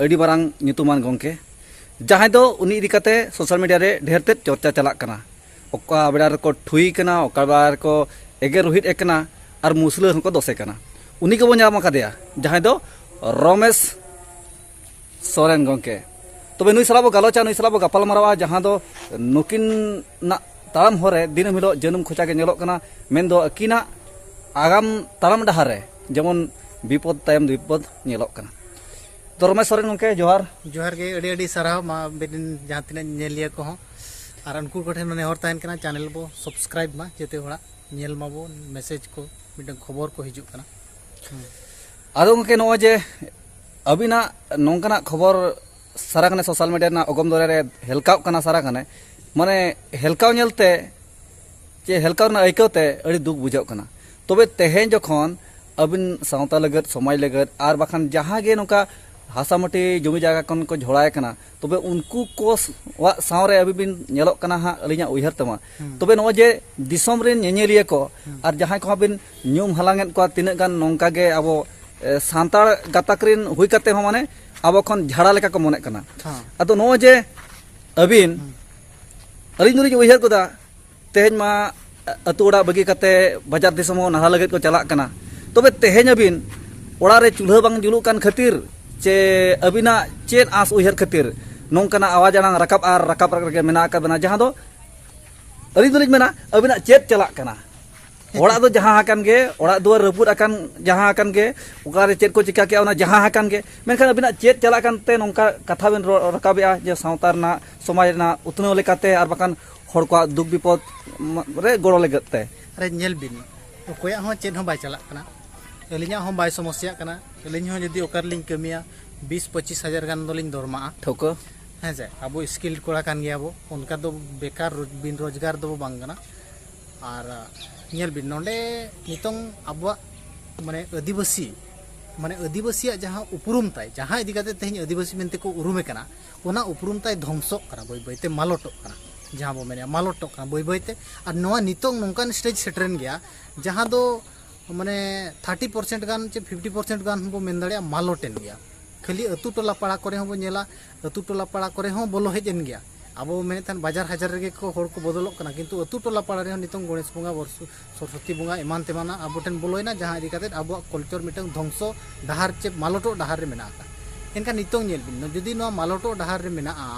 ᱟᱹᱰᱤ ᱢᱟᱨᱟᱝ ᱧᱩᱛᱩᱢᱟᱱ ᱜᱚᱢᱠᱮ ᱡᱟᱦᱟᱸᱭ ᱫᱚ ᱩᱱᱤ ᱤᱫᱤ ᱠᱟᱛᱮ ᱥᱳᱥᱟᱞ ᱢᱤᱰᱤᱭᱟ ᱨᱮ ᱰᱷᱮᱨ ᱛᱮᱫ ᱪᱚᱨᱪᱟ ᱪᱟᱞᱟᱜ ᱠᱟᱱᱟ ᱚᱠᱟ ᱵᱮᱲᱟ ᱨᱮᱠᱚ ᱴᱷᱩᱭ ᱠᱟᱱᱟ ᱚᱠᱟ ᱵᱮᱲᱟ ᱨᱮᱠᱚ ᱮᱜᱮᱨ ᱨᱩᱦᱤᱫ ᱮ ᱠᱟᱱᱟ ᱟᱨ ᱢᱩᱥᱞᱟᱹ ᱦᱚᱸᱠᱚ ᱫᱚᱥᱮ ᱠᱟᱱᱟ ᱩᱱᱤ ᱜᱮᱵᱚᱱ ᱧᱟᱢ ᱟᱠᱟᱫᱮᱭᱟ ᱡᱟᱦᱟᱸᱭ ᱫᱚ ᱨᱚᱢᱮᱥ ᱥᱚᱨᱮᱱ ᱜᱚᱢᱠᱮ ᱛᱚᱵᱮ ᱱᱩᱭ ᱥᱟᱞᱟᱜ ᱵᱚ ᱜᱟᱞᱚᱪᱟ ᱱᱩᱭ ᱥᱟᱞᱟᱜ ᱵᱚ ᱜᱟᱯᱟᱞ ᱢᱟᱨᱟᱣᱟ ᱡᱟᱦᱟᱸ ᱫᱚ ᱱᱩᱠᱤᱱ ᱱᱟᱜ ᱛᱟᱲᱟᱢ ᱦᱚᱨᱮ ᱫᱤᱱᱟᱹᱢ ᱦᱤᱞᱳᱜ ᱡᱟᱹᱱᱩᱢ ᱠᱷᱚᱪᱟ ᱜᱮ ᱧᱮᱞᱚᱜ ᱠᱟᱱᱟ ᱢᱮᱱᱫᱚ ᱟᱹᱠᱤᱱᱟᱜ ᱟᱜᱟᱢ ᱛᱟᱲᱟᱢ ᱰᱟᱦᱟᱨ ᱨᱮ ᱡᱮᱢᱚᱱ ᱵᱤᱯᱚᱫ ᱛᱟᱭᱚᱢ ᱵᱤᱯᱚᱫ ᱧᱮᱞᱚᱜ ᱠᱟᱱᱟ ᱛᱚ ᱨᱚᱢᱮᱥ ᱥᱚᱨᱮᱱ ᱜᱚᱢᱠᱮ ᱡᱚᱦᱟᱨ ᱡᱚᱦᱟᱨ ᱜᱮ ᱟᱹᱰᱤ ᱟᱹᱰᱤ ᱥᱟᱨᱦᱟᱣ ᱢᱟ ᱟᱵᱮᱱ ᱡᱟᱦᱟᱸ ᱛᱤᱱᱟᱹᱜ ᱧᱮᱞᱤᱭᱟᱹ ᱠᱚᱦᱚᱸ ᱟᱨ ᱩᱱᱠᱩ ᱠᱚᱴᱷᱮᱱ ᱱᱮᱦᱚᱨ ᱛᱟᱦᱮᱱ ᱠᱟᱱᱟ ᱪᱮᱱᱮᱞ ᱵᱚ ᱥᱟᱵᱥᱠᱨᱟᱭᱤᱵ ᱢᱟ ᱡᱮᱛᱮ ᱦᱚᱲᱟᱜ ᱧᱮᱞ ᱢᱟᱵᱚ ᱢᱮᱥᱮᱡᱽ ᱠᱚ ᱢᱤᱫᱴᱟᱝ ᱠᱷᱚᱵᱚᱨ ᱠᱚ ᱦᱤᱡᱩᱜ ᱠᱟᱱᱟ ᱟᱫᱚ ᱜᱚᱢᱠᱮ ᱱᱚᱜᱼᱚᱭ ᱡᱮ ᱟᱹᱵᱤᱱᱟᱜ ᱱᱚᱝᱠᱟᱱᱟᱜ ᱠᱷᱚᱵᱚᱨ ᱥᱟᱨᱟ ᱠᱟᱱᱮ ᱥᱳᱥᱟᱞ ᱢᱤᱰᱤᱭᱟ ᱨᱮᱱᱟᱜ ᱚᱜᱚᱢ ᱫᱚᱨᱮ ᱨᱮ ᱦᱮᱞᱠᱟᱣ ᱠᱟᱱᱟ ᱥᱟᱨᱟ ᱠᱟᱱᱮ ᱢᱟᱱᱮ ᱦᱮᱞᱠᱟᱣ ᱧᱮᱞᱛᱮ ᱪᱮ ᱦᱮᱞᱠᱟᱣ ᱨᱮᱱᱟᱜ ᱟᱹᱭᱠᱟᱹᱣ ᱛᱮ ᱟᱹᱰᱤ ᱫᱩᱠ ᱵᱩᱡᱷᱟᱹᱜ ᱠᱟᱱᱟ ᱛᱚᱵᱮ ᱛᱮᱦᱮᱧ ᱡᱚᱠᱷᱚᱱ ᱟᱹᱵᱤᱱ ᱥᱟᱶᱛᱟ ᱞᱟᱹᱜᱤᱫ ᱥᱚᱢᱟᱡᱽ ᱞᱟᱹᱜᱤᱫ ᱟᱨ ᱵᱟᱠᱷᱟᱱ ᱡᱟᱦᱟᱸ ᱜᱮ ᱱᱚᱝᱠᱟ ᱦᱟᱥᱟ ᱢᱟᱹᱴᱤ ᱡᱚᱢᱤ ᱡᱟᱭᱜᱟ ᱠᱷᱚᱱ ᱠᱚ ᱡᱷᱚᱲᱟᱭ ᱠᱟᱱᱟ ᱛᱚᱵᱮ ᱩᱱᱠᱩ ᱠᱚ ᱣᱟᱜ ᱥᱟᱶᱨᱮ ᱟᱹᱵᱤᱱ ᱵᱤᱱ ᱧᱮᱞᱚᱜ ᱠᱟᱱᱟ ᱦᱟᱸᱜ ᱟᱹᱞᱤᱧᱟᱜ ᱩᱭᱦᱟᱹᱨ ᱛᱮᱢᱟ ᱛᱚᱵᱮ ᱱᱚᱜᱼᱚᱭ ᱡᱮ ᱫᱤᱥᱚᱢ ᱨᱮᱱ ᱧᱮᱧᱮᱞᱤᱭᱟᱹ ᱠᱚ ᱟᱨ ᱡᱟᱦᱟᱸᱭ ᱠᱚᱦᱚᱸ ᱵᱤᱱ ᱧᱩᱢ ᱦᱟᱞᱟᱝᱮᱫ ᱠᱚᱣᱟ ᱛᱤᱱᱟᱹᱜ ᱜᱟᱱ ᱱᱚᱝᱠᱟ ᱜᱮ ᱟᱵᱚ ᱥᱟᱱᱛᱟᱲ ᱜᱟᱛᱟᱠ ᱨᱮᱱ ᱦᱩᱭ ᱠᱟᱛᱮ ᱦᱚᱸ ᱢᱟᱱᱮ ᱟᱵᱚ ᱠᱷᱚᱱ ᱡᱷᱟᱲᱟ ᱞᱮᱠᱟ ᱠᱚ ᱢᱚᱱᱮᱜ ᱠᱟᱱᱟ ᱟᱫᱚ ᱱᱚᱜᱼᱚᱭ ᱡᱮ ᱟᱹᱵᱤᱱ ᱟᱹᱞᱤᱧ ᱫᱚᱞᱤᱧ ᱩᱭᱦᱟᱹᱨ ᱜᱚᱫᱟ ᱛᱮᱦᱮᱧ ᱢᱟ ᱟᱹᱛᱩ ᱚᱲᱟᱜ ᱵᱟᱹᱜᱤ ᱠᱟᱛᱮ ᱵᱟᱡᱟᱨ ᱫᱤᱥᱚᱢ ᱦᱚᱸ ᱱᱟᱦᱟ ᱞᱟᱹᱜᱤᱫ ᱠᱚ ᱪᱟᱞᱟᱜ ᱠᱟᱱᱟ ᱛᱚᱵᱮ ᱛᱮᱦᱮᱧ ᱟᱹᱵᱤᱱ ᱚᱲᱟᱜ ᱨᱮ ᱪᱩᱞᱦᱟᱹ ᱵᱟᱝ ᱡᱩᱞᱩᱜ ᱠᱟᱱ ᱠᱷᱟᱹᱛᱤᱨ ᱪᱮ ᱟᱹᱵᱤᱱᱟᱜ ᱪᱮᱫ ᱟᱸᱥ ᱩᱭᱦᱟᱹᱨ ᱠᱷᱟᱹᱛᱤᱨ ᱱᱚᱝᱠᱟᱱᱟᱜ ᱟᱣᱟᱡᱽ ᱟᱲᱟᱝ ᱨᱟᱠᱟᱵ ᱟᱨ ᱨᱟᱠᱟᱵ ᱨᱮᱜᱮ ᱢᱮᱱᱟᱜ ᱟᱠᱟᱫ ᱵᱮᱱᱟ ᱡᱟᱦᱟᱸ ᱫᱚ ᱟᱹᱞᱤᱧ ᱫᱚᱞᱤᱧ ᱢᱮᱱᱟ ᱟᱹᱵᱤᱱᱟᱜ ᱪᱮᱫ ᱪᱟᱞᱟᱜ ᱠᱟᱱᱟ ᱚᱲᱟᱜ ᱫᱚ ᱡᱟᱦᱟᱸ ᱟᱠᱟᱱ ᱜᱮ ᱚᱲᱟᱜ ᱫᱩᱣᱟᱹᱨ ᱨᱟᱹᱯᱩᱫ ᱟᱠᱟᱱ ᱡᱟᱦᱟᱸ ᱟᱠᱟᱱ ᱜᱮ ᱚᱠᱟᱨᱮ ᱪᱮᱫ ᱠᱚ ᱪᱤᱠᱟ ᱠᱮᱜᱼᱟ ᱚᱱᱟ ᱡᱟᱦᱟᱸ ᱟᱠᱟᱱ ᱜᱮ ᱢᱮᱱᱠᱷᱟᱱ ᱟᱹᱵᱤᱱᱟᱜ ᱪᱮᱫ ᱪᱟᱞᱟᱜ ᱠᱟᱱᱛᱮ ᱱᱚᱝᱠᱟ ᱠᱟᱛᱷᱟ ᱵᱤᱱ ᱨᱟᱠᱟᱵᱮᱜᱼᱟ ᱡᱮ ᱥᱟᱶᱛᱟ ᱨᱮᱱᱟᱜ ᱥᱚᱢᱟᱡᱽ ᱨᱮᱱᱟᱜ ᱩᱛᱱᱟᱹᱣ ᱞᱮᱠᱟᱛᱮ ᱟᱨ ᱵᱟᱠᱷᱟᱱ ᱦᱚᱲ ᱠᱚᱣᱟᱜ ᱫᱩᱠ ᱵᱤᱯᱚᱫ ᱨᱮ ᱜᱚᱲᱚ ᱞᱟᱹᱜᱤᱫ ᱛᱮ ᱟᱨᱮ ᱧᱮᱞ ᱵᱤᱱ ᱚᱠᱚᱭᱟᱜ ᱦᱚᱸ ᱪᱮᱫ ᱦᱚᱸ ᱵᱟᱭ ᱪᱟᱞᱟᱜ ᱠᱟᱱᱟ ᱟᱹᱞᱤᱧᱟᱜ ᱦᱚᱸ ᱵᱟᱭ ᱥᱚᱢᱚᱥᱭᱟᱜ ᱠᱟᱱᱟ ᱟᱹᱞᱤᱧ ᱦᱚᱸ ᱡᱩᱫᱤ ᱚᱠᱟ ᱨᱮᱞᱤᱧ ᱠᱟᱹᱢᱤᱭᱟ ᱵᱤᱥ ᱯᱚᱸᱪᱤᱥ ᱦᱟᱡᱟᱨ ᱜᱟᱱ ᱫᱚᱞᱤᱧ ᱫᱚᱨᱢᱟᱜᱼᱟ ᱴᱷᱟᱹᱣᱠᱟᱹ ᱦᱮᱸ ᱥᱮ ᱟᱵᱚ ᱥᱠᱤᱞᱰ ᱠᱚᱲᱟ ᱠᱟᱱ ᱜᱮᱭᱟᱵᱚ ᱚᱱᱠᱟ ᱫᱚ ᱵᱮᱠᱟᱨ ᱵᱤᱱ ᱨᱳᱡᱽᱜᱟᱨ ᱫᱚ ᱵᱟᱝ ᱠᱟᱱᱟ ᱟᱨ ᱧᱮᱞ ᱵᱤᱱ ᱱᱚᱰᱮ ᱱᱤᱛᱚᱝ ᱟᱵᱚᱣᱟᱜ ᱢᱟᱱᱮ ᱟᱹᱫᱤᱵᱟᱹᱥᱤ ᱢᱟᱱᱮ ᱟᱹᱫᱤᱵᱟᱹᱥᱤᱭᱟᱜ ᱡᱟᱦᱟᱸ ᱩᱯᱨᱩᱢ ᱛᱟᱭ ᱡᱟᱦᱟᱸ ᱤᱫᱤ ᱠᱟᱛᱮ ᱛᱮᱦᱮᱧ ᱟᱹᱫᱤᱵᱟᱹᱥᱤ ᱢᱮᱱᱛᱮ ᱠᱚ ᱩᱨᱩᱢᱮ ᱠᱟᱱᱟ ᱚᱱᱟ ᱩᱯᱨᱩᱢ ᱛᱟᱭ ᱫᱷᱚᱝᱥᱚᱜ ᱠᱟᱱᱟ ᱵᱟᱹᱭ ᱵᱟᱹᱭ ᱛᱮ ᱢᱟᱞᱚᱴᱚᱜ ᱠᱟᱱᱟ ᱡᱟᱦᱟᱸ ᱵᱚ ᱢᱮᱱᱮᱜᱼᱟ ᱢᱟᱞᱚᱴᱚᱜ ᱠᱟᱱᱟ ᱵᱟᱹᱭ ᱵᱟᱹᱭ ᱛᱮ ᱟᱨ ᱱᱚᱣᱟ ᱱᱤᱛᱚᱝ ᱱᱚᱝᱠᱟᱱ ᱥᱴᱮᱡᱽ ᱥᱮᱴᱮᱨᱮᱱ ᱜᱮᱭᱟ ᱡᱟᱦᱟᱸ ᱫᱚ ᱢᱟᱱᱮ ᱛᱷᱟᱨᱴᱤ ᱯᱟᱨᱥᱮᱱᱴ ᱜᱟᱱ ᱪᱮ ᱯᱷᱤᱯᱴᱤ ᱯᱟᱨᱥᱮᱱᱴ ᱜᱟᱱ ᱵᱚ ᱢᱮᱱ ᱫᱟᱲᱮᱭᱟᱜᱼᱟ ᱢᱟᱞᱚᱴᱮᱱ ᱜᱮᱭᱟ ᱠᱷᱟᱹᱞᱤ ᱟᱹᱛᱩ ᱴᱚᱞᱟ ᱯᱟᱲᱟ ᱠᱚᱨᱮ ᱦᱚᱸ ᱵᱚ ᱧᱮᱞᱟ ᱟᱹᱛᱩ ᱴᱚᱞᱟ ᱯᱟᱲᱟ ᱠᱚᱨᱮ ᱦᱚᱸ ᱵᱚᱞᱚ ᱦᱮᱡ ᱮᱱ ᱜᱮᱭᱟ ᱟᱵᱚ ᱢᱮᱱᱮᱫ ᱛᱟᱦᱮᱱ ᱵᱟᱡᱟᱨ ᱦᱟᱡᱟᱨ ᱨᱮᱜᱮ ᱠᱚ ᱦᱚᱲ ᱠᱚ ᱵᱚᱫᱚᱞᱚᱜ ᱠᱟᱱᱟ ᱠᱤᱱᱛᱩ ᱟᱹᱛᱩ ᱴᱚᱞᱟ ᱯᱟᱲᱟ ᱨᱮᱦᱚᱸ ᱱᱤᱛᱚᱝ ᱜᱚᱱᱮᱥ ᱵᱚᱸᱜᱟ ᱥᱚᱨᱚᱥᱚᱛᱤ ᱵᱚᱸᱜᱟ ᱮᱢᱟᱱ ᱛᱮᱢᱟᱱᱟᱜ ᱟᱵᱚ ᱴᱷᱮᱱ ᱵᱚᱞᱚᱭᱮᱱᱟ ᱡᱟᱦᱟᱸ ᱤᱫᱤ ᱠᱟᱛᱮ ᱟᱵᱚᱣᱟᱜ ᱠᱚᱞᱪᱚᱨ ᱢᱤᱫᱴᱟᱝ ᱫᱷᱚᱝᱥᱚ ᱰᱟᱦᱟᱨ ᱪᱮ ᱢᱟᱞᱚᱴᱚᱜ ᱰᱟᱦᱟᱨ ᱨᱮ ᱢᱮᱱᱟᱜ ᱟᱠᱟᱫ ᱮᱱᱠᱷᱟᱱ ᱱᱤᱛᱚᱝ ᱧᱮᱞ ᱵᱤᱱ ᱡᱩᱫᱤ ᱱᱚᱣᱟ ᱢᱟᱞᱚᱴᱚᱜ ᱰᱟᱦᱟᱨ ᱨᱮ ᱢᱮᱱᱟᱜᱼᱟ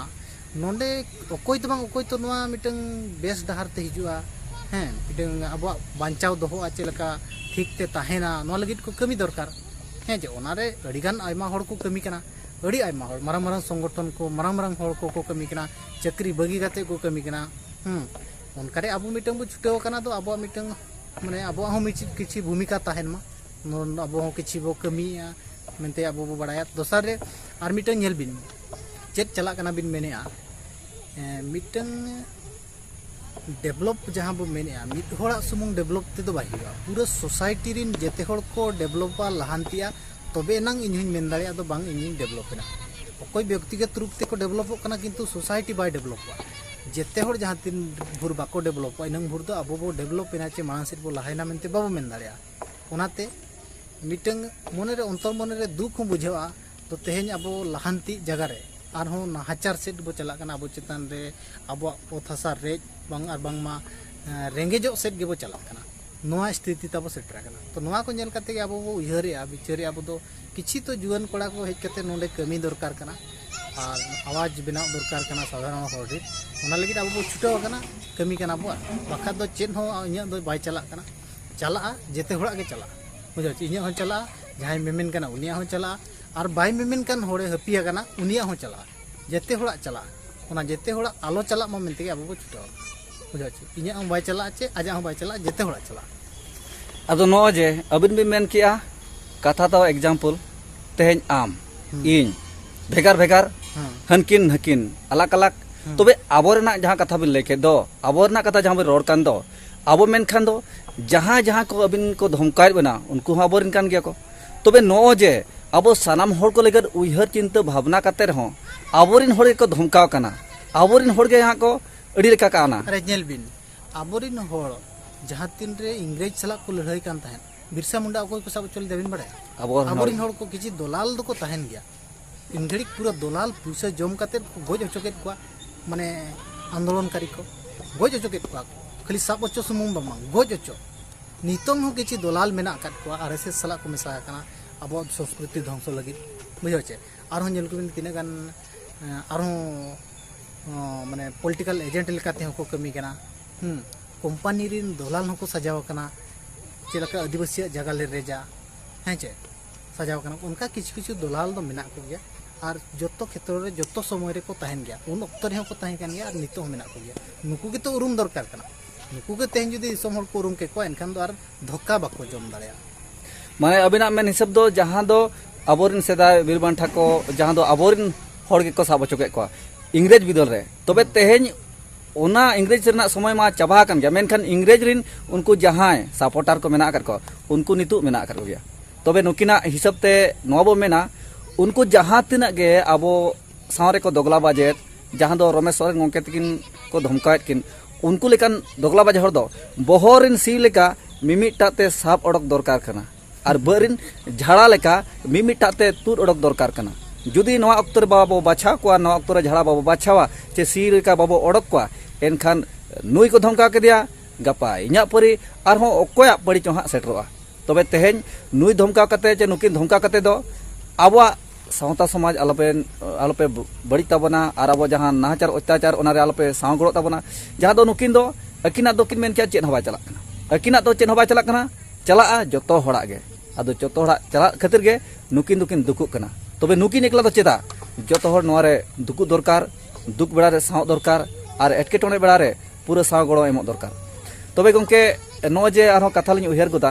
ᱱᱚᱰᱮ ᱚᱠᱚᱭ ᱫᱚ ᱵᱟᱝ ᱚᱠᱚᱭ ᱛᱚ ᱱᱚᱣᱟ ᱢᱤᱫᱴᱟᱝ ᱵᱮᱥ ᱰᱟᱦᱟᱨ ᱛᱮ ᱦᱤᱡᱩᱜᱼᱟ ᱦᱮᱸ ᱢᱤᱫᱴᱟᱝ ᱟᱵᱚᱣᱟᱜ ᱵᱟᱧᱪᱟᱣ ᱫᱚᱦᱚᱜᱼᱟ ᱪᱮᱫ ᱞᱮᱠᱟ ᱴᱷᱤᱠ ᱛᱮ ᱛᱟᱦᱮᱱᱟ ᱱᱚᱣᱟ ᱞᱟᱹᱜᱤᱫ ᱠᱚ ᱠᱟᱹᱢᱤ ᱫᱚᱨᱠᱟᱨ ᱦᱮᱸ ᱡᱮ ᱚᱱᱟᱨᱮ ᱟᱹᱰᱤᱜᱟᱱ ᱟᱭᱢᱟ ᱦᱚᱲ ᱠᱚ ᱠᱟᱹᱢᱤ ᱠᱟᱱᱟ ᱟᱹᱰᱤ ᱟᱭᱢᱟ ᱦᱚᱲ ᱢᱟᱨᱟᱝ ᱢᱟᱨᱟᱝ ᱥᱚᱝᱜᱚᱴᱷᱚᱱ ᱠᱚ ᱢᱟᱨᱟᱝ ᱢᱟᱨᱟᱝ ᱦᱚᱲ ᱠᱚᱠᱚ ᱠᱟᱹᱢᱤ ᱠᱟᱱᱟ ᱪᱟᱹᱠᱨᱤ ᱵᱟᱹᱜᱤ ᱠᱟᱛᱮ ᱠᱚ ᱠᱟᱹᱢᱤ ᱠᱟᱱᱟ ᱦᱮᱸ ᱚᱱᱠᱟᱨᱮ ᱟᱵᱚ ᱢᱤᱫᱴᱟᱝ ᱵᱚ ᱪᱷᱩᱴᱟᱹᱣ ᱟᱠᱟᱱᱟ ᱫᱚ ᱟᱵᱚᱣᱟᱜ ᱢᱤᱫᱴᱟᱝ ᱢᱟᱱᱮ ᱟᱵᱚᱣᱟᱜ ᱦᱚᱸ ᱢᱤᱫ ᱠᱤᱪᱷᱩ ᱵᱷᱩᱢᱤᱠᱟ ᱛᱟᱦᱮᱱ ᱢᱟ ᱟᱵᱚ ᱦᱚᱸ ᱠᱤᱪᱷᱩ ᱵᱚ ᱠᱟᱹᱢᱤᱭᱟ ᱢᱮᱱᱛᱮ ᱟᱵᱚ ᱵᱚ ᱵᱟᱲᱟᱭᱟ ᱫᱚᱥᱟᱨ ᱨᱮ ᱟᱨ ᱢᱤᱫᱴᱟᱝ ᱧᱮᱞ ᱵᱤᱱ ᱪᱮᱫ ᱪᱟᱞᱟᱜ ᱠᱟᱱᱟ ᱵᱤᱱ ᱢᱮᱱᱮᱜᱼᱟ ᱢᱤᱫᱴᱟᱝ ᱰᱮᱵᱷᱞᱚᱯ ᱡᱟᱦᱟᱸ ᱵᱚ ᱢᱮᱱᱮᱜᱼᱟ ᱢᱤᱫ ᱦᱚᱲᱟᱜ ᱥᱩᱢᱩᱝ ᱰᱮᱵᱷᱞᱚᱯ ᱛᱮᱫᱚ ᱵᱟᱭ ᱦᱩᱭᱩᱜᱼᱟ ᱯᱩᱨᱟᱹ ᱥᱳᱥᱟᱭᱴᱤ ᱨᱤᱱ ᱡᱮᱛᱮ ᱦᱚᱲ ᱠᱚ ᱰᱮᱵᱷᱞᱚᱯᱟ ᱞᱟᱦᱟᱱᱛᱤᱜᱼᱟ ᱛᱚᱵᱮ ᱮᱱᱟᱝ ᱤᱧ ᱦᱚᱸᱧ ᱢᱮᱱ ᱫᱟᱲᱮᱭᱟᱜᱼᱟ ᱟᱫᱚ ᱵᱟᱝ ᱤᱧᱤᱧ ᱰᱮᱵᱷᱞᱚᱯ ᱮᱱᱟ ᱚᱠᱚᱭ ᱵᱮᱠᱛᱤᱜᱚᱛ ᱨᱩᱯ ᱛᱮᱠᱚ ᱰᱮᱵᱷᱞᱚᱯᱚᱜ ᱠᱟᱱᱟ ᱠᱤᱱᱛᱩ ᱥᱳᱥᱟᱭᱴᱤ ᱵᱟᱭ ᱰᱮᱵᱷᱞᱚᱯᱚᱜᱼᱟ ᱡᱮᱛᱮ ᱦᱚᱲ ᱡᱟᱦᱟᱸ ᱛᱤᱱ ᱵᱷᱳᱨ ᱵᱟᱠᱚ ᱰᱮᱵᱷᱞᱚᱯᱚᱜᱼᱟ ᱤᱱᱟᱹᱝ ᱵᱷᱳᱨ ᱫᱚ ᱟᱵᱚ ᱵᱚ ᱰᱮᱵᱷᱞᱚᱯ ᱮᱱᱟ ᱪᱮ ᱢᱟᱲᱟᱝ ᱥᱮᱫ ᱵᱚ ᱞᱟᱦᱟᱭᱮᱱᱟ ᱢᱮᱱᱛᱮ ᱵᱟᱵᱚ ᱢᱮᱱ ᱫᱟᱲᱮᱭᱟᱜᱼᱟ ᱚᱱᱟᱛᱮ ᱢᱤᱫᱴᱟᱹᱝ ᱢᱚᱱᱮ ᱨᱮ ᱚᱱᱛᱚᱨ ᱢᱚᱱᱮ ᱨᱮ ᱫᱩᱠ ᱦᱚᱸ ᱵᱩᱡᱷᱟᱹᱜᱼᱟ ᱛᱚ ᱛᱮᱦᱮᱧ ᱟᱵᱚ ᱞᱟᱦᱟᱱᱛᱤ ᱡᱟᱭᱜᱟ ᱨᱮ ᱟᱨᱦᱚᱸ ᱱᱟᱦᱟᱪᱟᱨ ᱥᱮᱫ ᱵᱚ ᱪᱟᱞᱟᱜ ᱠᱟᱱᱟ ᱟᱵᱚ ᱪᱮᱛᱟᱱ ᱨᱮ ᱟᱵᱚᱣᱟᱜ ᱚᱛ ᱦᱟᱥᱟ ᱨᱮᱡ ᱵᱟᱝ ᱟᱨ ᱵᱟᱝᱢᱟ ᱨᱮᱸᱜᱮᱡᱚᱜ ᱥᱮᱫ ᱜᱮᱵᱚ ᱪᱟᱞᱟᱜ ᱠᱟᱱᱟ ᱱᱚᱣᱟ ᱥᱛᱷᱤᱛᱤ ᱛᱟᱵᱚ ᱥᱮᱴᱮᱨ ᱟᱠᱟᱱᱟ ᱛᱚ ᱱᱚᱣᱟ ᱠᱚ ᱧᱮᱞ ᱠᱟᱛᱮ ᱜᱮ ᱟᱵᱚ ᱵᱚ ᱩᱭᱦᱟᱹᱨᱮᱜᱼᱟ ᱵᱤᱪᱟᱹᱨᱮᱜᱼᱟ ᱟᱵᱚ ᱫᱚ ᱠᱤᱪᱷᱩ ᱛᱚ ᱡᱩᱣᱟᱹᱱ ᱠᱚᱲᱟ ᱠᱚ ᱦᱮᱡ ᱠᱟᱛᱮ ᱱᱚᱰᱮ ᱠᱟᱹᱢᱤ ᱫᱚᱨᱠᱟᱨ ᱠᱟᱱᱟ ᱟᱨ ᱟᱣᱟᱡᱽ ᱵᱮᱱᱟᱣ ᱫᱚᱨᱠᱟᱨ ᱠᱟᱱᱟ ᱥᱟᱫᱷᱟᱨᱚᱱ ᱦᱚᱲ ᱨᱮ ᱚᱱᱟ ᱞᱟᱹᱜᱤᱫ ᱟᱵᱚ ᱵᱚ ᱪᱷᱩᱴᱟᱹᱣ ᱟᱠᱟᱱᱟ ᱠᱟᱹᱢᱤ ᱠᱟᱱᱟ ᱵᱚ ᱵᱟᱠᱷᱟᱡ ᱫᱚ ᱪᱮᱫ ᱦᱚᱸ ᱤᱧᱟᱹᱜ ᱫᱚ ᱵᱟᱭ ᱪᱟᱞᱟᱜ ᱠᱟᱱᱟ ᱪᱟᱞᱟᱜᱼᱟ ᱡᱮᱛᱮ ᱦᱚᱲᱟᱜ ᱜᱮ ᱪᱟᱞᱟᱜᱼᱟ ᱵᱩᱡᱷᱟᱹᱣ ᱤᱧᱟᱹᱜ ᱦᱚᱸ ᱪᱟᱞᱟᱜᱼᱟ ᱡᱟᱦᱟᱸᱭ ᱢᱮᱢᱮᱱ ᱠᱟᱱᱟ ᱩᱱᱤᱭᱟᱜ ᱦᱚᱸ ᱪᱟᱞᱟᱜᱼᱟ ᱟᱨ ᱵᱟᱭ ᱢᱮᱢᱮᱱ ᱠᱟᱱ ᱦᱚᱲᱮ ᱦᱟᱹᱯᱤ ᱟᱠᱟᱱᱟ ᱩᱱᱤᱭᱟᱜ ᱦᱚᱸ ᱪᱟᱞᱟᱜᱼᱟ ᱡᱮᱛᱮ ᱦᱚᱲᱟᱜ ᱪᱟᱞᱟᱜᱼᱟ ᱚᱱᱟ ᱡᱮᱛᱮ ᱦᱚᱲᱟᱜ ᱟᱞᱚ ᱪᱟᱞᱟᱜ ᱢᱟ ᱢᱮᱱᱛᱮ ᱟᱵᱚ ᱵᱚ ᱪᱷᱩᱴᱟᱹᱣ ᱵᱩᱡᱷᱟᱹᱣ ᱪᱮ ᱤᱧᱟᱹᱜ ᱦᱚᱸ ᱵᱟᱭ ᱪᱟᱞᱟᱜᱼᱟ ᱪᱮ ᱟᱡᱟᱜ ᱦᱚᱸ ᱵᱟᱭ ᱪᱟᱞᱟᱜᱼᱟ ᱡᱮᱛᱮ ᱦᱚᱲᱟᱜ ᱪᱟᱞᱟᱜᱼᱟ ᱟᱫᱚ ᱱᱚᱜᱼᱚᱭ ᱡᱮ ᱟᱹᱵᱤᱱ ᱵᱤᱱ ᱢᱮᱱ ᱠᱮᱜᱼᱟ ᱠᱟᱛᱷᱟ ᱫᱚ ᱮᱠᱡᱟᱢᱯᱚᱞ ᱛᱮᱦᱮᱧ ᱟᱢ ᱤᱧ ᱵᱷᱮᱜᱟᱨ ᱵᱷᱮᱜᱟᱨ ᱦᱟᱹᱱᱠᱤᱱ ᱦᱟᱹᱠᱤᱱ ᱟᱞᱟᱜᱽ ᱟᱞᱟᱜᱽ ᱛᱚᱵᱮ ᱟᱵᱚ ᱨᱮᱱᱟᱜ ᱡᱟᱦᱟᱸ ᱠᱟᱛᱷᱟ ᱵᱤᱱ ᱞᱟᱹᱭ ᱠᱮᱫ ᱫᱚ ᱟᱵᱚ ᱨᱮᱱᱟᱜ ᱠᱟᱛᱷᱟ ᱡᱟᱦᱟᱸ ᱵᱤᱱ ᱨᱚᱲ ᱠᱟᱱ ᱫᱚ ᱟᱵᱚ ᱢᱮᱱᱠᱷᱟᱱ ᱫᱚ ᱡᱟᱦᱟᱸ ᱡᱟᱦᱟᱸ ᱠᱚ ᱟᱹᱵᱤᱱ ᱠᱚ ᱫᱷᱚᱢᱠᱟᱭᱮᱫ ᱵᱮᱱᱟ ᱩᱱᱠᱩ ᱦᱚᱸ ᱟᱵᱚᱨᱮᱱ ᱠᱟᱱ ᱜᱮᱭᱟ ᱠᱚ ᱛᱚᱵᱮ ᱱᱚᱜᱼᱚᱭ ᱡᱮ ᱟᱵᱚ ᱥᱟᱱᱟᱢ ᱦᱚᱲ ᱠᱚ ᱞᱟᱹᱜᱤᱫ ᱩᱭᱦᱟᱹᱨ ᱪᱤᱱᱛᱟᱹ ᱵᱷᱟᱵᱽᱱᱟ ᱠᱟᱛᱮ ᱨᱮᱦᱚᱸ ᱟᱵᱚᱨᱮᱱ ᱦᱚᱲ ᱜᱮᱠᱚ ᱫᱷᱚᱢᱠᱟᱣ ᱠᱟᱱᱟ ᱟᱵᱚᱨᱮᱱ ᱦᱚᱲ ᱜᱮ ᱦᱟᱸᱜ ᱠᱚ ᱟᱹᱰᱤ ᱞᱮᱠᱟ ᱠᱟᱱᱟ ᱨᱮ ᱧᱮᱞ ᱵᱤᱱ ᱟᱵᱚᱨᱮᱱ ᱦᱚᱲ ᱡᱟᱦᱟᱸ ᱛᱤᱱ ᱨᱮ ᱤᱝᱨᱮᱡᱽ ᱥᱟᱞᱟᱜ ᱠᱚ ᱞᱟᱹᱲᱦᱟᱹᱭ ᱠᱟᱱ ᱛᱟᱦᱮᱸᱫ ᱵᱤᱨᱥᱟ ᱢᱩᱱᱰᱟ ᱚᱠᱚᱭ ᱠᱚ ᱥᱟᱵ ᱦᱚᱪᱚ ᱞᱮᱫᱮ ᱵᱤᱱ ᱵᱟᱲᱟᱭᱟ ᱟᱵᱚᱨᱮᱱ ᱦᱚᱲ ᱠᱚ ᱠᱤᱪᱷᱩ ᱫᱚᱞᱟᱞ ᱫᱚᱠᱚ ᱛᱟᱦᱮᱱ ᱜᱮᱭᱟ ᱤᱱ ᱜᱷᱟᱹᱲᱤᱡ ᱯᱩᱨᱟᱹ ᱫᱚᱞᱟᱞ ᱯᱩᱭᱥᱟᱹ ᱡᱚᱢ ᱠᱟᱛᱮ ᱠᱚ ᱜᱚᱡ ᱦᱚᱪᱚ ᱠᱮᱫ ᱠᱚᱣᱟ ᱢᱟᱱᱮ ᱟᱱᱫᱳᱞᱚᱱᱠᱟᱨᱤ ᱠᱚ ᱜᱚᱡ ᱦᱚᱪᱚ ᱠᱮᱫ ᱠᱚᱣᱟ ᱠᱷᱟᱹᱞᱤ ᱥᱟᱵ ᱦᱚᱪᱚ ᱥᱩᱢᱩᱝ ᱫᱚ ᱵᱟᱝ ᱜᱚᱡ ᱦᱚᱪᱚ ᱱᱤᱛᱚᱝ ᱦᱚᱸ ᱠᱤᱪᱷᱩ ᱫᱚᱞᱟᱞ ᱢᱮᱱᱟᱜ ᱟᱠᱟᱫ ᱠᱚᱣᱟ ᱟᱨ ᱮᱥᱮᱥ ᱥᱟᱞᱟᱜ ᱠᱚ ᱢᱮᱥᱟ ᱟᱠᱟᱱᱟ ᱟᱵᱚᱣᱟᱜ ᱥᱚᱝᱥᱠᱨᱤᱛᱤ ᱫᱷᱚᱝᱥᱚ ᱞᱟᱹᱜᱤᱫ ᱵᱩᱡᱷᱟᱹᱣ ᱪᱮ ᱟᱨᱦᱚᱸ ᱧᱮᱞ ᱠᱚᱵᱤᱱ ᱛᱤᱱᱟᱹᱜ ᱜᱟᱱ ᱟᱨᱦᱚᱸ ᱢᱟᱱᱮ ᱯᱚᱞᱤᱴᱤᱠᱟᱞ ᱮᱡᱮᱱᱴ ᱞᱮᱠᱟᱛᱮ ᱦᱚᱸ ᱠᱚ ᱠᱟᱹᱢᱤ ᱠᱟᱱᱟ ᱦᱩᱸ ᱠᱳᱢᱯᱟᱱᱤ ᱨᱤᱱ ᱫᱚᱞᱟᱞ ᱦᱚᱸᱠᱚ ᱥᱟᱡᱟᱣ ᱟᱠᱟᱱᱟ ᱪᱮᱫ ᱞᱮᱠᱟ ᱟᱹᱫᱤᱵᱟᱹᱥᱤᱭᱟᱜ ᱡᱟᱭᱜᱟ ᱞᱮ ᱨᱮᱡᱟ ᱦᱮᱸ ᱪᱮ ᱥᱟᱡᱟᱣ ᱠᱟᱱᱟ ᱚᱱᱠᱟ ᱠᱤᱪᱷᱩ ᱠᱤᱪᱷᱩ ᱫᱚᱞᱟᱞ ᱫᱚ ᱢᱮᱱᱟᱜ ᱠᱚᱜᱮᱭᱟ ᱟᱨ ᱡᱚᱛᱚ ᱠᱷᱮᱛᱨᱚ ᱨᱮ ᱡᱚᱛᱚ ᱥᱚᱢᱚᱭ ᱨᱮᱠᱚ ᱛᱟᱦᱮᱱ ᱜᱮᱭᱟ ᱩᱱ ᱚᱠᱛᱚ ᱨᱮᱦᱚᱸ ᱠᱚ ᱛᱟᱦᱮᱸ ᱠᱟᱱ ᱜᱮᱭᱟ ᱟᱨ ᱱᱤᱛᱚᱜ ᱦᱚᱸ ᱢᱮᱱᱟᱜ ᱠᱚᱜᱮᱭᱟ ᱱᱩᱠᱩ ᱜᱮᱛᱚ ᱩᱨᱩᱢ ᱫᱚᱨᱠᱟᱨ ᱠᱟᱱᱟ ᱱᱩᱠᱩ ᱜᱮ ᱛᱮᱦᱮᱧ ᱡᱩᱫᱤ ᱫᱤᱥᱚᱢ ᱦᱚᱲ ᱠᱚ ᱩᱨᱩᱢ ᱠᱮᱫ ᱠᱚᱣᱟ ᱮᱱᱠᱷᱟᱱ ᱫᱚ ᱟᱨ ᱫᱷᱚᱠᱟ ᱵᱟᱠᱚ ᱡᱚᱢ ᱫᱟᱲᱮᱭᱟᱜᱼᱟ ᱢᱟᱱᱮ ᱟᱵᱤᱱᱟᱜ ᱢᱮᱱ ᱦᱤᱥᱟᱹᱵ ᱫᱚ ᱡᱟᱦᱟᱸ ᱫᱚ ᱟᱵᱚᱨᱮᱱ ᱥᱮᱫᱟᱭ ᱵᱤᱨ ᱵᱟᱱᱴᱷᱟ ᱠᱚ ᱡᱟᱦᱟᱸ ᱫᱚ ᱟᱵᱚᱨᱮᱱ ᱦᱚᱲ ᱜᱮᱠᱚ ᱥᱟᱵ ᱦᱚᱪᱚ ᱠᱮᱫ ᱠᱚᱣᱟ ᱤᱝᱨᱮᱡᱽ ᱵᱤᱫᱟᱹᱞ ᱨᱮ ᱛᱚᱵᱮ ᱛᱮᱦᱮᱧ ᱚᱱᱟ ᱤᱝᱨᱮᱡᱽ ᱨᱮᱱᱟᱜ ᱥᱚᱢᱚᱭ ᱢᱟ ᱪᱟᱵᱟ ᱟᱠᱟᱱ ᱜᱮᱭᱟ ᱢᱮᱱᱠᱷᱟᱱ ᱤᱝᱨᱮᱡᱽ ᱨᱤᱱ ᱩᱱᱠᱩ ᱡᱟᱦᱟᱸᱭ ᱥᱟᱯᱚᱨᱴᱟᱨ ᱠᱚ ᱢᱮᱱᱟᱜ ᱟᱠᱟᱫ ᱠᱚᱣᱟ ᱩᱱᱠᱩ ᱱᱤᱛᱚᱜ ᱢᱮᱱᱟᱜ ᱟᱠᱟᱫ ᱠᱚᱜᱮᱭᱟ ᱛᱚᱵᱮ ᱱᱩᱠᱤᱱᱟᱜ ᱦᱤᱥᱟᱹᱵ ᱛᱮ ᱱᱚᱣᱟ ᱵᱚ ᱢᱮᱱᱟ ᱩᱱᱠᱩ ᱡᱟᱦᱟᱸ ᱛᱤᱱᱟᱹᱜ ᱜᱮ ᱟᱵᱚ ᱥᱟᱶ ᱨᱮᱠᱚ ᱫᱚᱜᱽᱞᱟ ᱵᱟᱡᱮᱫ ᱡᱟᱦᱟᱸ ᱫᱚ ᱨᱚᱢᱮᱥ ᱥᱚᱨᱮᱱ ᱜᱚᱢᱠᱮ ᱛᱟᱹᱠᱤᱱ ᱠᱚ ᱫᱷᱚᱢᱠᱟᱣᱮᱫ ᱠᱤᱱ ᱩᱱᱠᱩ ᱞᱮᱠᱟᱱ ᱫᱚᱜᱽᱞᱟ ᱵᱟᱡ ᱦᱚᱲ ᱫᱚ ᱵᱚᱦᱚᱜ ᱨᱤᱱ ᱥᱤ ᱞᱮᱠᱟ ᱢᱤᱢᱤᱫᱴᱟᱜ ᱛᱮ ᱥᱟᱵ ᱚᱰᱚᱠ ᱫᱚᱨᱠᱟᱨ ᱠᱟᱱᱟ ᱟᱨ ᱵᱟᱹᱫᱽ ᱨᱮᱱ ᱡᱷᱟᱲᱟ ᱞᱮᱠᱟ ᱢᱤᱢᱤᱫᱴᱟᱜ ᱛᱮ ᱛᱩᱫ ᱚᱰᱚᱠ ᱫᱚᱨᱠᱟᱨ ᱠᱟᱱᱟ ᱡᱩᱫᱤ ᱱᱚᱣᱟ ᱚᱠᱛᱚ ᱨᱮ ᱵᱟᱵᱚ ᱵᱟᱪᱷᱟᱣ ᱠᱚᱣᱟ ᱱᱚᱣᱟ ᱚᱠᱛᱚ ᱨᱮ ᱡᱷᱟᱲᱟ ᱵᱟᱵᱚ ᱵᱟᱪᱷᱟᱣᱟ ᱪᱮ ᱥᱤ ᱞᱮᱠᱟ ᱵᱟᱵᱚ ᱚᱰᱚᱠ ᱠᱚᱣᱟ ᱮᱱᱠᱷᱟᱱ ᱱᱩᱭ ᱠᱚ ᱫᱷᱚᱢᱠᱟᱣ ᱠᱮᱫᱮᱭᱟ ᱜᱟᱯᱟ ᱤᱧᱟᱹᱜ ᱯᱟᱹᱨᱤ ᱟᱨᱦᱚᱸ ᱚᱠᱚᱭᱟᱜ ᱯᱟᱹᱨᱤ ᱪᱚ ᱦᱟᱸᱜ ᱥᱮᱴᱮᱨᱚᱜᱼᱟ ᱛᱚᱵᱮ ᱛᱮᱦᱮᱧ ᱱᱩᱭ ᱫᱷᱚᱢᱠᱟᱣ ᱠᱟᱛᱮ ᱪᱮ ᱱᱩᱠᱤᱱ ᱫᱷᱚᱢᱠᱟᱣ ᱠᱟᱛᱮ ᱫᱚ ᱟᱵᱚᱣᱟᱜ ᱥᱟᱶᱛᱟ ᱥᱚᱢᱟᱡᱽ ᱟᱞᱚᱯᱮ ᱟᱞᱚᱯᱮ ᱵᱟᱹᱲᱤᱡ ᱛᱟᱵᱚᱱᱟ ᱟᱨ ᱟᱵᱚ ᱡᱟᱦᱟᱸ ᱱᱟᱦᱟᱪᱟᱨ ᱚᱛᱛᱟᱪᱟᱨ ᱚᱱᱟᱨᱮ ᱟᱞᱚᱯᱮ ᱥᱟᱶ ᱜᱚᱲᱚᱜ ᱛᱟᱵᱚᱱᱟ ᱡᱟᱦᱟᱸ ᱫᱚ ᱱᱩᱠᱤᱱ ᱫᱚ ᱟᱹᱠᱤᱱᱟᱜ ᱫᱚ ᱠᱤᱱ ᱢᱮᱱ ᱠᱮᱭᱟ ᱪᱮᱫ ᱦᱚᱸ ᱵᱟᱭ ᱪᱟᱞᱟᱜ ᱠᱟᱱᱟ ᱟᱹᱠᱤᱱᱟᱜ ᱫᱚ ᱪᱮᱫ ᱦᱚᱸ ᱵᱟᱭ ᱪᱟᱞᱟᱜ ᱠᱟᱱᱟ ᱪᱟᱞᱟᱜᱼᱟ ᱡᱚᱛᱚ ᱦᱚᱲᱟᱜ ᱜᱮ ᱟᱫᱚ ᱡᱚᱛᱚ ᱦᱚᱲᱟᱜ ᱪᱟᱞᱟᱜ ᱠᱷᱟᱹᱛᱤᱨ ᱜᱮ ᱱᱩᱠᱤᱱ ᱫᱚᱠᱤᱱ ᱫᱩᱠᱩᱜ ᱠᱟᱱᱟ ᱛᱚᱵᱮ ᱱᱩᱠᱤᱱ ᱮᱠᱞᱟ ᱫᱚ ᱪᱮᱫᱟᱜ ᱡᱚᱛᱚ ᱦᱚᱲ ᱱᱚᱣᱟ ᱨᱮ ᱫᱩᱠᱩᱜ ᱫᱚᱨᱠᱟᱨ ᱫᱩᱠ ᱵᱮᱲᱟ ᱨᱮ ᱥᱟᱶ ᱫᱚᱨᱠᱟᱨ ᱟᱨ ᱮᱴᱠᱮᱴᱚᱬᱮ ᱵᱮᱲᱟ ᱨᱮ ᱯᱩᱨᱟᱹ ᱥᱟᱶ ᱜᱚᱲᱚ ᱮᱢᱚᱜ ᱫᱚᱨᱠᱟᱨ ᱛᱚᱵᱮ ᱜᱚᱝᱠᱮ ᱱᱚᱜᱼᱚᱭ ᱡᱮ ᱟᱨᱦᱚᱸ ᱠᱟᱛᱷᱟ ᱞᱤᱧ ᱩᱭᱦᱟᱹᱨ ᱜᱚᱫᱟ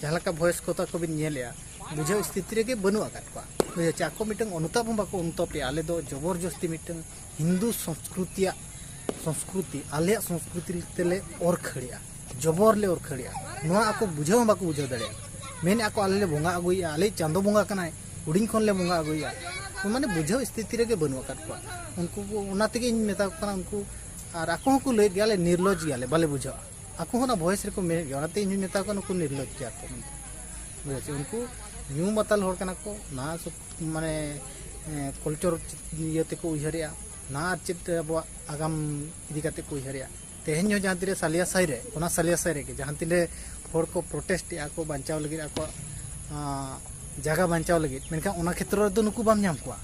ᱡᱟᱦᱟᱸ ᱞᱮᱠᱟ ᱵᱷᱚᱭᱮᱥ ᱠᱚ ᱛᱟᱠᱚ ᱵᱤᱱ ᱧᱮᱞᱮᱜᱼᱟ ᱵᱩᱡᱷᱟᱹᱣ ᱥᱛᱷᱤᱛᱤ ᱨᱮᱜᱮ ᱵᱟᱹᱱᱩᱜ ᱟᱠᱟᱫ ᱠᱚᱣᱟ ᱵᱩᱡᱷᱟᱹᱣ ᱪᱮ ᱟᱠᱚ ᱢᱤᱫᱴᱟᱝ ᱚᱱᱩᱛᱟᱯ ᱦᱚᱸ ᱵᱟᱠᱚ ᱚᱱᱩᱛᱟᱯᱮᱜᱼᱟ ᱟᱞᱮ ᱫᱚ ᱡᱚᱵᱚᱨ ᱡᱚᱥᱛᱤ ᱢᱤᱫᱴᱟᱝ ᱦᱤᱱᱫᱩ ᱥᱚᱝᱥᱠᱨᱤᱛᱤᱭᱟᱜ ᱥᱚᱝᱥᱠᱨᱤᱛᱤ ᱟᱞᱮᱭᱟᱜ ᱥᱚᱝᱥᱠᱨᱤᱛᱤ ᱛᱮᱞᱮ ᱚᱨ ᱠᱷᱟᱹᱲᱮᱜᱼᱟ ᱡᱚᱵᱚᱨ ᱞᱮ ᱚᱨ ᱠᱷᱟᱹᱲᱮᱜᱼᱟ ᱱᱚᱣᱟ ᱟᱠᱚ ᱵᱩᱡᱷᱟᱹᱣ ᱦᱚᱸ ᱵᱟᱠᱚ ᱵᱩᱡᱷᱟᱹᱣ ᱫᱟᱲᱮᱭᱟᱜᱼᱟ ᱢᱮᱱᱮᱜᱼᱟ ᱠᱚ ᱟᱞᱮ ᱞᱮ ᱵᱚᱸᱜᱟ ᱟᱹᱜᱩᱭᱮᱜᱼᱟ ᱟᱞᱮ ᱪᱟᱸᱫᱚ ᱵᱚᱸᱜᱟ ᱠᱟᱱᱟᱭ ᱦᱩᱰᱤᱧ ᱠᱷᱚᱱ ᱞᱮ ᱵᱚᱸᱜᱟ ᱟᱹᱜᱩᱭᱮᱜᱼᱟ ᱢᱟᱱᱮ ᱵᱩᱡᱷᱟᱹᱣ ᱥᱛᱷᱤᱛᱤ ᱨᱮᱜᱮ ᱵᱟᱹᱱᱩᱜ ᱟᱠᱟᱫ ᱠᱚᱣᱟ ᱩᱱᱠᱩ ᱚᱱᱟ ᱛᱮᱜᱮ ᱤᱧ ᱢᱮᱛᱟ ᱠᱚ ᱠᱟᱱᱟ ᱩᱱᱠᱩ ᱟᱨ ᱟᱠᱚ ᱦᱚᱸᱠᱚ ᱞᱟᱹᱭᱮᱫ ᱜᱮᱭᱟ ᱟᱞᱮ ᱱᱤᱨᱞᱚᱡᱽ ᱜᱮᱭᱟᱞᱮ ᱵᱟᱞᱮ ᱵᱩᱡᱷᱟᱹᱣᱟ ᱟᱠᱚ ᱦᱚᱸ ᱚᱱᱟ ᱵᱷᱚᱭᱮᱥ ᱨᱮᱠᱚ ᱢᱮᱱᱮᱫ ᱜᱮᱭᱟ ᱚᱱᱟᱛᱮ ᱤᱧ ᱢᱮᱛᱟ ᱠᱚᱣᱟ ᱱᱩᱠᱩ ᱱᱤᱨᱞᱚᱡᱽ ᱜᱮᱭᱟ ᱠᱚ ᱢᱮᱱᱛᱮ ᱩᱱᱠᱩ ᱧᱩ ᱢᱟᱛᱟᱞ ᱦᱚᱲ ᱠᱟᱱᱟ ᱠᱚ ᱱᱟ ᱢᱟᱱᱮ ᱠᱚᱞᱪᱚᱨ ᱤᱭᱟᱹ ᱛᱮᱠᱚ ᱩᱭᱦᱟᱹᱨᱮᱜᱼᱟ ᱱᱟ ᱟᱨ ᱪᱮᱫ ᱟᱵᱚᱣᱟᱜ ᱟᱜᱟᱢ ᱤᱫᱤ ᱠᱟᱛᱮ ᱠᱚ ᱩᱭᱦᱟᱹᱨᱮᱜᱼᱟ ᱛᱮᱦᱮᱧ ᱦᱚᱸ ᱡᱟᱦᱟᱸ ᱛᱤᱨᱮ ᱥᱟᱞᱤᱭᱟ ᱥᱟᱭ ᱨᱮ ᱚᱱᱟ ᱥᱟᱞᱤᱭᱟ ᱥᱟᱭ ᱨᱮᱜᱮ ᱡᱟᱦᱟᱸ ᱛᱤᱨᱮ ᱦᱚᱲ ᱠᱚ ᱯᱨᱚᱴᱮᱥᱴ ᱮᱜᱼᱟ ᱠᱚ ᱵᱟᱧᱪᱟᱣ ᱞᱟᱹᱜᱤᱫ ᱟᱠᱚᱣᱟᱜ ᱡᱟᱭᱜᱟ ᱵᱟᱧᱪᱟᱣ ᱞᱟᱹᱜᱤᱫ ᱢᱮᱱᱠᱷᱟᱱ ᱚᱱᱟ ᱠᱷᱮᱛᱨᱚ ᱨᱮᱫᱚ ᱱᱩᱠᱩ ᱵᱟᱢ ᱧᱟᱢ ᱠᱚᱣᱟ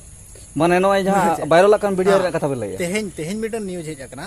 ᱢᱟᱱᱮ ᱱᱚᱜᱼᱚᱭ ᱡᱟᱦᱟᱸ ᱵᱟᱭᱨᱟᱞ ᱟᱠᱟᱱ ᱵᱷᱤᱰᱤᱭᱳ ᱨᱮᱭᱟᱜ ᱠᱟᱛᱷᱟ ᱵᱮᱱ ᱞᱟᱹᱭᱟ ᱛᱮᱦᱮᱧ ᱛᱮᱦᱮᱧ ᱢᱤᱫᱴᱟᱝ ᱱᱤᱭᱩᱡᱽ ᱦᱮᱡ ᱟᱠᱟᱱᱟ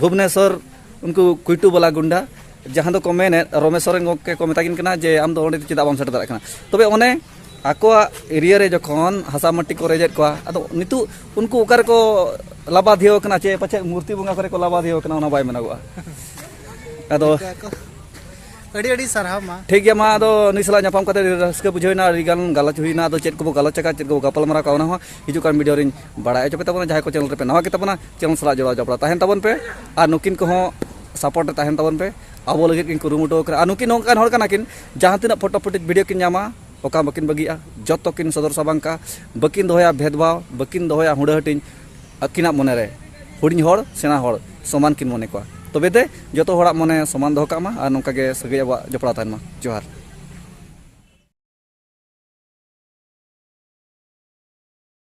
ᱵᱷᱩᱵᱽᱱᱮᱥᱚᱨ ᱩᱱᱠᱩ ᱠᱩᱭᱴᱩ ᱵᱟᱞᱟ ᱜᱩᱱᱰᱟ ᱡᱟᱦᱟᱸ ᱫᱚᱠᱚ ᱢᱮᱱᱮᱫ ᱨᱚᱢᱮᱥ ᱥᱚᱨᱮᱱ ᱜᱚᱢᱠᱮ ᱠᱚ ᱢᱮᱛᱟ ᱠᱤᱱ ᱠᱟᱱᱟ ᱡᱮ ᱟᱢ ᱫᱚ ᱚᱸᱰᱮ ᱪᱮᱫᱟᱜ ᱵᱟᱢ ᱥᱮᱴᱮᱨ ᱫᱟᱲᱮᱭᱟᱜ ᱠᱟᱱᱟ ᱛᱚᱵᱮ ᱚᱱᱮ ᱟᱠᱚᱣᱟᱜ ᱮᱨᱤᱭᱟ ᱨᱮ ᱡᱚᱠᱷᱚᱱ ᱦᱟᱥᱟ ᱢᱟᱹᱴᱤ ᱠᱚ ᱨᱮᱡᱮᱫ ᱠᱚᱣᱟ ᱟᱫᱚ ᱱᱤᱛᱚᱜ ᱩᱱᱠᱩ ᱚᱠᱟ ᱨᱮᱠᱚ ᱞᱟᱵᱟᱫᱷᱤᱭᱟᱹᱣ ᱠᱟᱱᱟ ᱪᱮ ᱯᱟᱪᱮᱫ ᱢᱩᱨᱛᱤ ᱵᱚᱸᱜᱟ ᱠᱚᱨᱮ ᱠᱚ ᱞᱟᱵᱟᱫᱷᱤᱭᱟᱹᱣ ᱠᱟᱱᱟ ᱚᱱᱟ ᱵᱟᱭ ᱢᱮᱱᱚᱜᱚᱜᱼᱟ ᱟᱫᱚ ᱟᱹᱰᱤ ᱟᱹᱰᱤ ᱥᱟᱨᱦᱟᱣ ᱢᱟ ᱴᱷᱤᱠ ᱜᱮᱭᱟ ᱢᱟ ᱟᱫᱚ ᱱᱩᱭ ᱥᱟᱞᱟᱜ ᱧᱟᱯᱟᱢ ᱠᱟᱛᱮ ᱨᱟᱹᱥᱠᱟᱹ ᱵᱩᱡᱷᱟᱹᱣᱮᱱᱟ ᱟᱹᱰᱤ ᱜᱟᱱ ᱜᱟᱞᱚᱪ ᱦᱩᱭᱱᱟ ᱟᱫᱚ ᱪᱮᱫ ᱠᱚᱵᱚ ᱜᱟᱞᱚᱪ ᱟᱠᱟᱫ ᱪᱮᱫ ᱠᱚᱵᱚ ᱜᱟᱯᱟᱞᱢᱟᱨᱟᱣ ᱠᱟᱜ ᱚᱱᱟ ᱦᱚᱸ ᱦᱤᱡᱩᱜ ᱠᱟᱱ ᱵᱷᱤᱰᱤᱭᱳ ᱨᱤᱧ ᱵᱟᱲᱟᱭ ᱦᱚᱪᱚ ᱯᱮ ᱛᱟᱵᱚᱱᱟ ᱡᱟᱦᱟᱸᱭ ᱠᱚ ᱪᱮᱱᱮᱞ ᱨᱮᱯᱮ ᱱᱟᱣᱟ ᱜᱮ ᱛᱟᱵᱚᱱᱟ ᱪᱮᱱᱮᱞ ᱥᱟᱞᱟᱜ ᱡᱚᱲᱟᱣ ᱡᱚᱯᱲᱟᱣ ᱛᱟᱦᱮᱱ ᱛᱟᱵᱚᱱ ᱯᱮ ᱟᱨ ᱱᱩᱠᱤᱱ ᱠᱚᱦᱚᱸ ᱥᱟᱯᱳᱨᱴ ᱨᱮ ᱛᱟᱦᱮᱱ ᱛᱟᱵᱚᱱ ᱯᱮ ᱟᱵᱚ ᱞᱟᱹᱜᱤᱫ ᱠᱤᱱ ᱠᱩᱨᱩᱢᱩᱴᱩ ᱟᱠᱟᱱᱟ ᱟᱨ ᱱᱩᱠᱤᱱ ᱱᱚᱝᱠᱟᱱ ᱦᱚᱲ ᱠᱟᱱᱟ ᱠᱤᱱ ᱡᱟᱦᱟᱸ ᱛᱤᱱᱟᱹᱜ ᱯᱷᱳᱴᱳ ᱯᱷᱩᱴᱮᱡᱽ ᱵᱷᱤᱰᱤᱭᱳ ᱠᱤᱱ ᱧᱟᱢᱟ ᱚᱠᱟ ᱵᱟᱹᱠᱤᱱ ᱵᱟᱹᱜᱤᱜᱼᱟ ᱡᱚᱛᱚ ᱠᱤᱱ ᱥᱚᱫᱚᱨ ᱥᱟᱵᱟᱝ ᱠᱟᱜᱼᱟ ᱵᱟᱹᱠᱤᱱ ᱫᱚᱦᱚᱭᱟ ᱵᱷᱮᱫᱽᱵᱷᱟᱣ ᱵᱟᱹᱠᱤᱱ ᱫᱚᱦᱚᱭᱟ ᱦᱩᱰᱟᱹ ᱦᱟᱹᱴᱤᱧ ᱟᱹᱠᱤᱱᱟᱜ ᱢᱚᱱᱮ ᱨᱮ ᱦᱩᱰᱤᱧ ᱦᱚᱲ ᱥᱮᱬᱟ ᱦᱚᱲ ᱥᱚᱢᱟᱱ ᱠᱤᱱ ᱢᱚᱱᱮ ᱠᱚᱣᱟ ᱛᱚᱵᱮ ᱛᱮ ᱡᱚᱛᱚ ᱦᱚᱲᱟᱜ ᱢᱚᱱᱮ ᱥᱚᱢᱟᱱ ᱫᱚᱦᱚ ᱠᱟᱜ ᱢᱟ ᱟᱨ ᱱᱚᱝᱠᱟ ᱜᱮ ᱥᱟᱹᱜᱟᱹᱭ ᱟᱵᱚᱣᱟᱜ ᱡᱚᱯᱲᱟᱣ ᱛᱟᱦᱮᱱ ᱢᱟ ᱡᱚᱦᱟᱨ